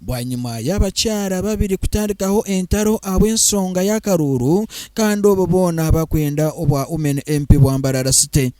Bwanyima y'abakyara babiri kutandikaho entaro ahabw'ensonga y'akaruuru kandi obwo boona bakwenda obwa Women MP Bwambarara City.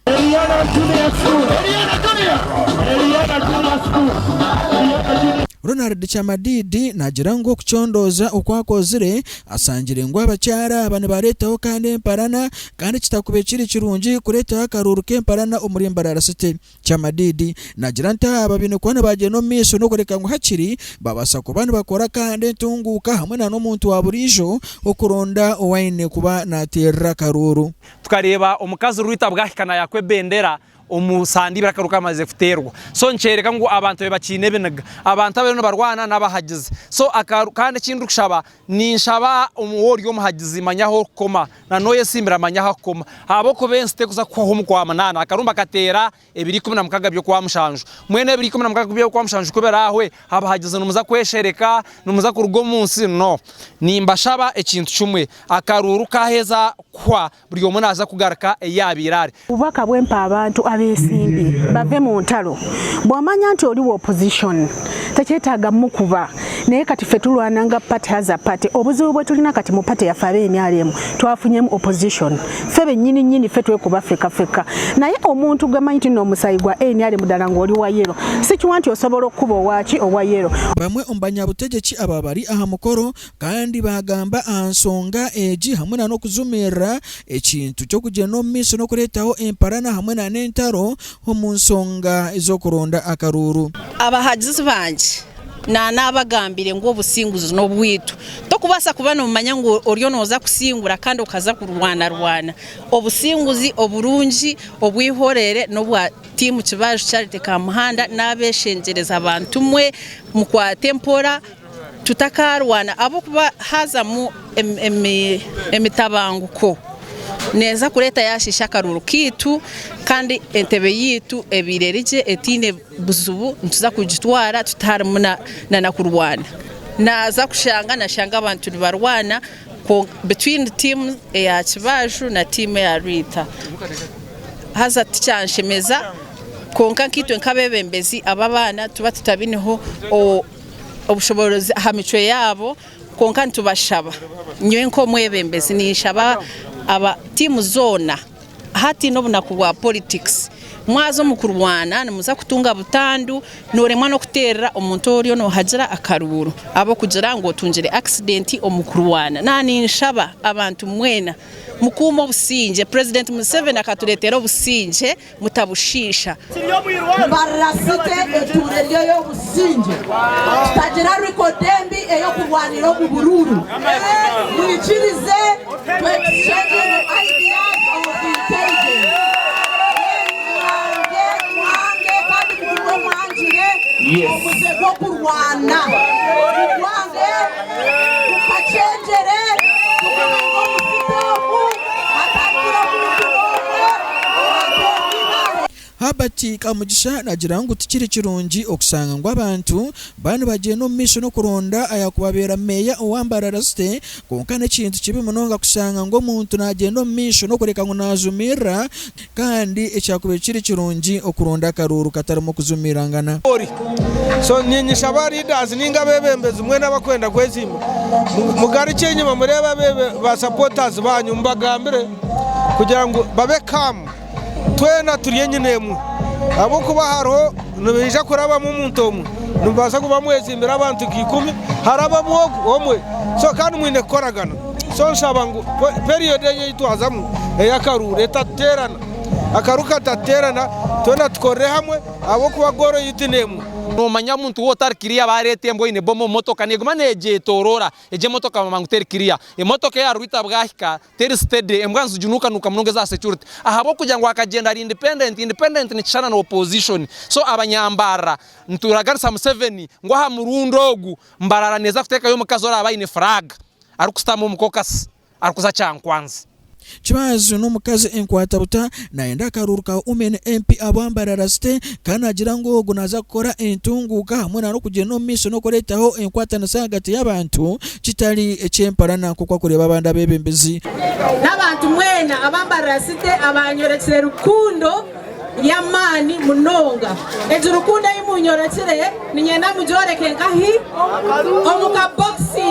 Ronald Kyamadiidi naagira ngu okucondooza oku akozire asangire ngu abakyara aba nibareetaho kandi emparana kandi kitakube kiri kirungi kureetaho akaruuru k'emparana omuri Mbarara City. Kyamadiidi naagira nti aba baine kuba nibaagyenda omu maisho n'okureka ngu hakiri babaasa kuba nibakora akahanda entunguuka hamwe na n'omuntu wa buriijo okuronda ou aine kuba naateerera akaruuru. Tukareeba omukazi Rwita bwahika naayakwa ebendera omu sande ibiri akaruuru kamaze kuteerwa so nikyoreka ngu abantu be bakiine ebiniga. Abantu abariyo nibarwana n'abahagizi so akaruuru kandi eki ndikushaba Ninshaba omuhe ori omuhagizi manya ahu orikukoma na n'oyo etsimbira manya ahu akukoma ahabw'okuba ensi terikuza kuhwaho omu kwa munaana akarumba kateera ebiro ikumi na mukaga by'okwa mushanju. Mbwenu ebiro ikumi na mukaga by'okwa mushanju ku biraahwe, abahagizi nimuza kweshereka? Nimuza kuruga omu nsi? No. Nimbashaba ekintu kimwe, akaruuru kaaheza kuhwa, Buri omwe naaza kugaruka ei yaabaire ari. Obubaka bw'empa abantu abeesimbe bave mu ntaro. Bwamanya nti ori wa opposition tekyetaaga mukuba naye kati ffe turwana nga party has a party. Obuzibu bweturina kati mu party yaffe aba nrm twafunyemu opposition ffe benyini nyini ffe twekuba feka feka naye omuntu gwe manyi ti nomusaayi gwa nrm dala ngu ori wa yellow sikiwa nti osobola okukuba owa ki owa yellow. Bamwe omu banyabutegyeki aba bari aha mukoro Kandi baagamba aha nsonga egi hamwe na n'okujumirira ekintu ky'okugyenda omu maisho n'okureetaho emparana hamwe na n'entaro omu nsonga z'okuronda akaruuru. Abahagizi bangye na naabagambire ngu obusinguzi n'obwaitu. Tokubaasa kuba noomanya ngu oriyo nooza kusingura kandi okaza kurwanarwana. Obusinguzi oburungi obw'eihoreere n'obwa Team Kibaju Charity Kamuhanda n'abeeshengyereza bantumwe mukwate mpora Tutakaarwana ahabw'okuba haazamu emitabanguko neeza kureeta yaashiisha akaruuru kaitu kandi entebe yaitu ebaire eri gye etaine buzibu nituza kugitwara tutarimu n'okurwana. Naaza kushanga nashanga abantu nibarwana between tiimu eya Kibaaju na tiimu eya Rwiita. Haza tikyanshemeza kwonka nkaitwe nk'abeebembezi ab'abaana tuba tutabineho obushoboorozi aha micwe yaabo kwonka nitubashaba nyowe nk'omwebembezi ninshaba aba tiimu zoona hataine obunaku bwa politics mwaza omu kurwana nimuza kutunga butandu nooremwa n'okuteerera omuntu oriyo noohagira akaruuru ahabw'okugira ngu otungire accident omu kurwana. Naaba ninshaba abantu mwena mukuume obusingye, President Museveni akatureetera obusingye. mutabushiisha. Mbarira City etuura eryo y'obusingye. Tutagira record embi ey'okurwanira omu buruuru. Mwikirize tu exchange our ideas of intelligence. Mwange, mwange kandi mugume mwangire omuze gw'okurwana. Mugwange. Tukakyengyere tukabanza omusika omu, hakarugira omuntu n'omwe owaatonda eibare. Herbert Kamugisha naagira ngu tikiri kirungi okushanga ngu abantu baba nibagyenda omu maisho n'okuronda ayaakubabeera meeya owa Mbarara City kwonka n'ekintu kibi munonga kushanga ngu omuntu naagyenda omu maisho n'okureka ngu naajumirira Kandi ekyakubaire kiri kirungi okuronda akaruuru katarimu kuzumiirangana. So niinyija ba leaders ninga abebembezi mwena abakwenda kwezimba mugarukye enyima mureebe abebe ba supporters banyu mubagambire kugira ngu babe calm twena turi enyina emwe ahabwokuba hariho nibaija kurabamu omuntu omwe nimubaasa kuba mwezimbire abantu nka ikumi harabamu ogwo omwe so kandi mwine kukoragana. So nshaba ngu period egi ei twazamu ey'akaruuru etatuteerana, akaruuru katatuteerana, twena tukorere hamwe ahabw'okuba goal yaitu n'emwe. Noomanya omuntu wootu ari kiriya baareeta embwa eine bomu omu motoka neeguma neegyetooroora, egyo emotoka bamanya ngu teri kiriya. Emotoka eya Rwita bwahika teri steady, embwa niziginuukanuuka munonga eza security ahabw'okugira ngu akagyenda ari independent, independent nikishushana na opposition. So abanyambarara nituraganisa Museveni ngu aha murundi ogu, Mbarara neeza kuteekayo omukazi oraabe aine furaaga, arikushutama omu kokasi, arikuza kyankwanzi. Kibaazi n'omukazi enkwatabuta naayenda akaruuru ka Women MP ahabwa Mbarara zite ka naagira ngu ogu naaza kukora entunguuka hamwe na n'okugyenda omu maisho n'okureetaho enkwatanisa ahagati y'abantu kitari eky'empalana nk'oku arikureeba abandi abeebembezi. N'abantu mwena aba Mbarara zite abaanyorekire rukundo. Y'amaani munonga. Egi rukundo ei munyorekire niinyenda mugyoreke nkahi? Omu kabokisi.